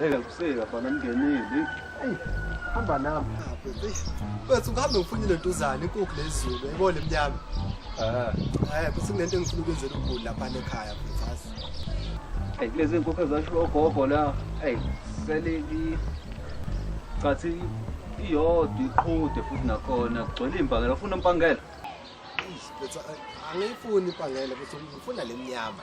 Eka kuseka bana mngenile. Hey, hamba nami. Wethu ngihambe ngifune le ntuzane inkukhu lezulu yayibona emnyama. Ah. Eh, kuthi kunento engifuna ukwenzela ukugula lapha ekhaya mfazi. Hey, kulezi nkukhu ezasho ogogo la. Hey, seleki cathi iyodwa iqhude futhi nakhona kugcwele impangela ufuna impangela. Angiyifuni impangela futhi ngifuna lemnyama.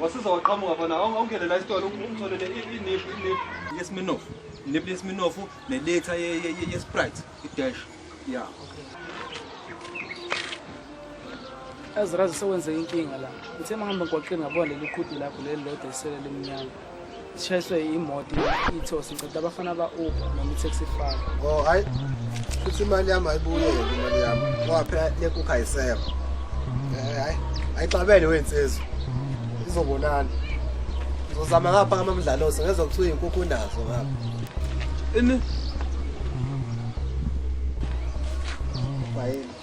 wasiza waqhamuka fana awungene la isitolo ungitholele iniphu iniphu yesminofu iniphu yesminofu nelitha yesprite idash ya azirazi sewenze inkinga la ngithe mangihamba ngigwaqeni ngabona leli qhudu lakho leli lodwa isele limnyama Sishayiswe imoto ithosi ngicela abafana ba Uber noma i-taxi file. Oh hayi. Futhi imali yami ayibuye imali yami. Ngoba phela le kukha ayisekho. Eh hayi. Ayixabene wensizwe. Izobonana. Uzozama ngapha amamdlalosi ngezwa kuthiwa inkukhu nazo ngapha. Ini? Bayini.